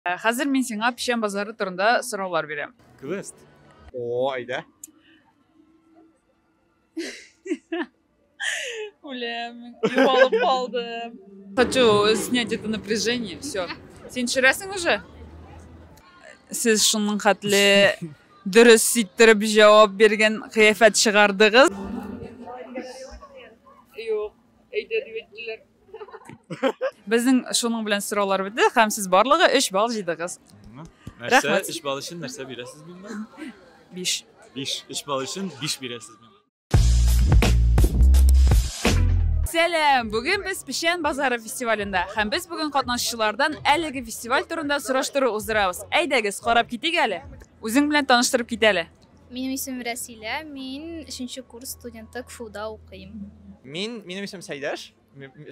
Э, хәзер мин сиңа печән базары турында сораулар бирәм. Квест. О, әйдә. Үлем, югалып калдым. Хочу снять это напряжение, все. Син төшерәсең уже? Сез шуның хәтле дөрес ситтереп җавап биргән кыяфәт чыгардыгыз. Юк, әйдә дип әйттеләр. Безнең шуның белән сораулар бетте һәм сез барлыгы 3 балл җыйдыгыз. Нәрсә 3 балл өчен нәрсә бирәсез миңа? 5. 5. 3 балл өчен 5 бирәсез миңа. Сәлам! Бүген без Печән базары фестивалендә һәм без бүген катнашучылардан әлеге фестиваль турында сораштыру уздырабыз. Әйдәгез, карап китик әле. Үзең белән таныштырып кит әле. Минем исемем Рәсилә, мин өченче курс студенты КФУда укыйм. Мин, минем исемем Сәйдәш,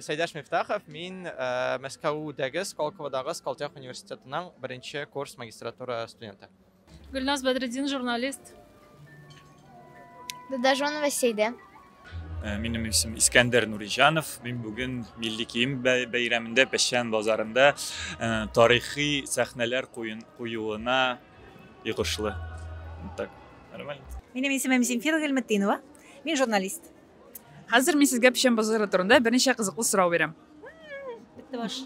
Сәйдәш Мифтахов, мин э, Мәскәүдәге Сколководагы Сколтех университетының беренче курс магистратура студенты. Гөлназ Бәдретдин, журналист. Дадажонова Сәйдә. Э, минем исем Искәндәр Нуриҗанов. Мин бүген милли кием бәйрәмендә Пәшән базарында э, тарихи сәхнәләр куюына и кошлы. Вот так. Нормально. Минем исемем Земфира Гельметтинова. Мин журналист. Хәзер мин сезгә печән базары турында берничә кызыклы сорау бирәм. Бетте баш.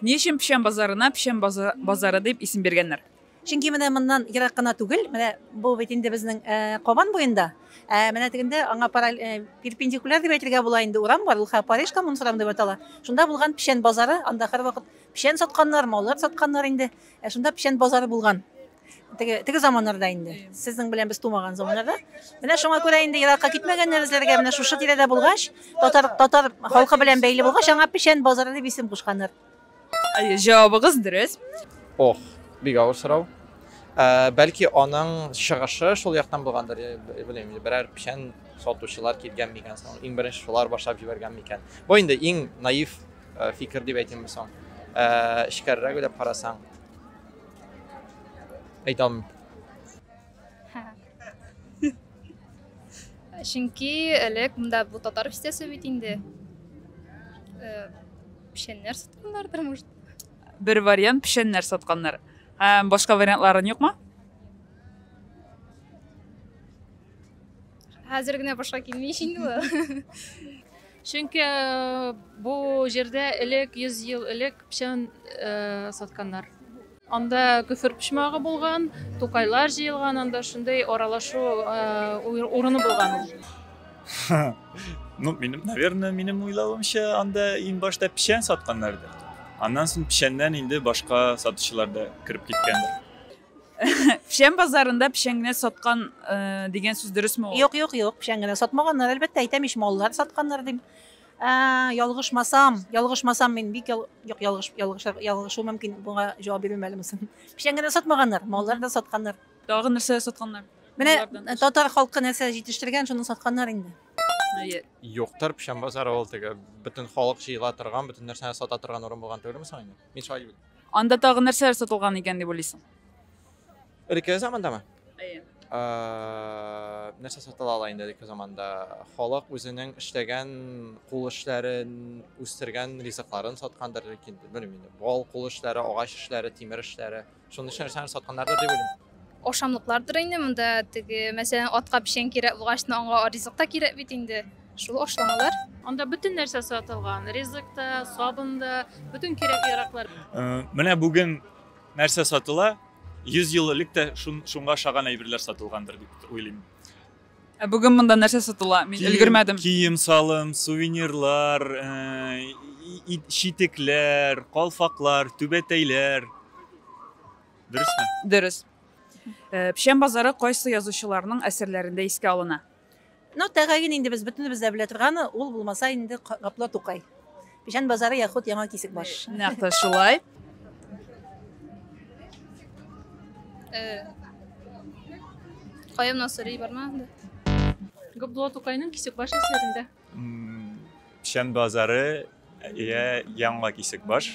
Ни өчен печән базарына печән базары дип исем биргәннәр? Чөнки менә моннан ерак кына түгел, менә бу бит инде безнең э, Кабан буенда. Ә э, менә тегендә аңа параль э, перпендикуляр дип әйтергә була инде урам бар, ул хә Париж коммунсурам дип атала. Шунда булган печән базары, анда һәрвакыт печән сатканнар, маллар сатканнар инде. Ә шунда печән базары булган. Теге, теге заманнарда инде. Сезнең белән без тумаган заманнарда. Менә шуңа күрә инде еракка китмәгәннәр эзләргә. Менә шушы тирәдә булгач, татар, татар халкы белән бәйле булгач, аңа печән базары дип исем кушканнар. Әйе, җавабыгыз дөрес. Ох, бик авыр сорау. Ә, бәлки аның чыгышы шул яктан булгандыр, я белмим, берәр печән сатучылар килгән микән соң, иң беренче шулар башлап җибәргән микән. Бу инде иң наив Э, фикер дип әйтимме соң э, эчкәрерәк уйлап карасаң әйтә алмыйм чөнки элек монда бу татар бистәсе бит инде э, печәннәр сатканнардыр может бер вариант печәннәр сатканнар һәм башка вариантларын юкмы хәзер генә башка килмей инде Чөнки бу җирдә элек, 100 ел элек печән сатканнар. Анда көфер почмагы булган, тукайлар җыелган, анда шундый аралашу урыны булган ул. Ну, минем, наверное, минем уйлавымча, анда иң башта печән сатканнардыр. Аннан соң печәннән инде башка сатучылар да кереп киткәндер. Печән базарында печән генә саткан э, дигән сүз дөресме ул? Юк, юк, юк, печән генә сатмаганнар, әлбәттә, әйтәм ич, маллар сатканнар дим. Ә, ялгышмасам, ялгышмасам мин бик ял... юк, ялгыш, ялгыш, ялгышу мөмкин, буга җавап бирмим әле мосын. Печән генә сатмаганнар, маллар да сатканнар. Тагы нәрсә сатканнар? Менә э, татар халкы нәрсә җитештергән, шуны сатканнар инде. Әйе. Юктыр, печән базары ул теге бөтен халык җыела торган, бөтен нәрсәне сата торган урын булган түгелме соң инде? Мин шулай дип уйлыйм. Анда тагы нәрсәләр сатылган икән дип уйлыйсың? Элекке замандамы? Әйе. Ә, нәрсә сатыла ала инде элекке заманда? Халык үзенең эшләгән кул эшләрен, үстергән ризыкларын саткандыр инде, белмим инде. Бал кул эшләре, агач эшләре, тимер эшләре. Шуның өчен нәрсәләр сатканнардыр дип уйлыйм. Ашамлыклардыр инде монда теге, мәсәлән, атка печән кирәк булгач, аңа ризык та кирәк бит инде. Шул ашламалар. Анда бөтен нәрсә сатылган. Ризык та, сабын да, бөтен кирәк-яраклар. Э, менә бүген нәрсә сатыла? 100 ел элек тә шунга ошаган әйберләр сатылгандыр дип уйлыйм. Ә бүген монда нәрсә сатыла? Мин өлгермәдем. Кием-салым, сувенирлар, э, читекләр, калфаклар, түбәтәйләр. Дөресме? Дөрес. Э, Печән базары кайсы язучыларның әсәрләрендә искә алына? Ну, тәгаен инде без бөтенебез дә белә торганы, ул булмаса инде Гапла Тукай. Печән базары яхуд Яңа Кисекбаш. Нәкъ тә шулай. Кая гына сорый барма. Габдулла Тукайның Кисекбаш әсәрендә. Печән базары я Яңа Кисекбаш.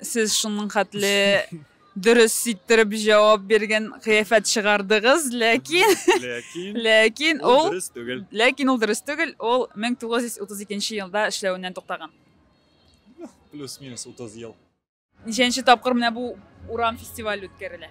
Сез шуның хәтле дөрес ситтереп җавап биргән кыяфәт чыгардыгыз, ләкин ләкин ләкин ул дөрес түгел. Ләкин ул дөрес түгел, ул 1932 елда эшләвеннән туктаган. Плюс-минус 30 ел. Ничәнче тапкыр менә бу урам фестиваль үткәрелә?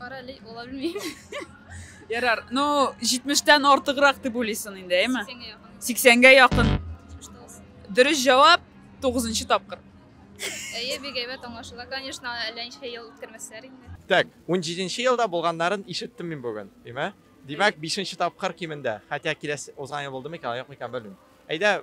Кара әле ала белмим. Ярар, ну 70-тән артыграк дип уйлыйсың инде, әйме? 80-гә якын. 80-гә якын. Дөрес җавап 9 тапкыр. Әйе, бик әйбәт аңлашыла. Конечно, әллә ничә ел үткәрмәсләр инде. Так, 17 елда булганнарын ишеттем мин бүген, әйме? Димәк, 5 тапкыр кимендә. Хәтта киләсе узган ел булды микән, юк микән белмим. Әйдә,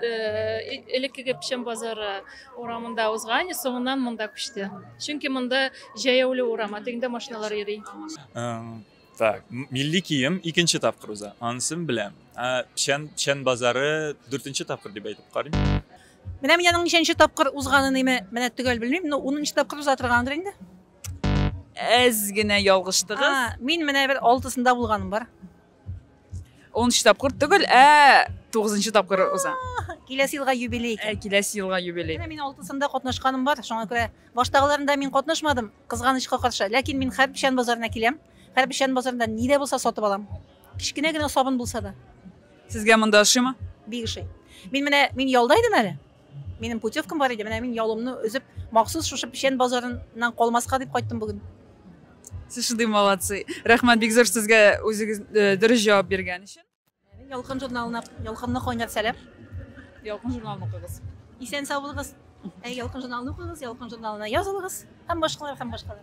элеккеге печән базары урамында узган соңыннан монда күчте чөнки монда җәяүле урам тегендә машиналар йөри так милли кием икенче тапкыр уза анысын беләм печән печән базары дүртенче тапкыр дип әйтеп карыйм менә мин аның ничәнче тапкыр узганын име менә төгәл белмим но унынчы тапкыр уза торгандыр инде әз генә ялгыштыгыз мин менә бер алтысында булганым бар Унынчы тапкыр түгел, ә тугызынчы тапкыр уза. Киләсе елга юбилей икән. Ә киләсе елга юбилей. Менә мин алтысында катнашканым бар, шуңа күрә баштагыларында мин катнашмадым, кызганычка каршы. Ләкин мин Хәрбишән базарына киләм. Хәрбишән базарында ни дә булса сатып алам. Кечкенә генә сабын булса да. Сезгә монда ошыймы? Бик ошый. Мин менә мин ялда идем әле. Минем путевкам бар иде, менә мин ялымны өзеп, махсус шушы печән базарыннан калмаска дип кайттым бүген. Сез шундый молодцы. Рәхмәт бик зур сезгә үзегез э, дөрес җавап биргән өчен. Ялкын журналына, ялкынны кайнар сәлам. Ялкын журналын укыгыз. Исән сау булыгыз. Ә ялкын журналын укыгыз, ялкын журналына язылыгыз һәм башкалар һәм башкалар.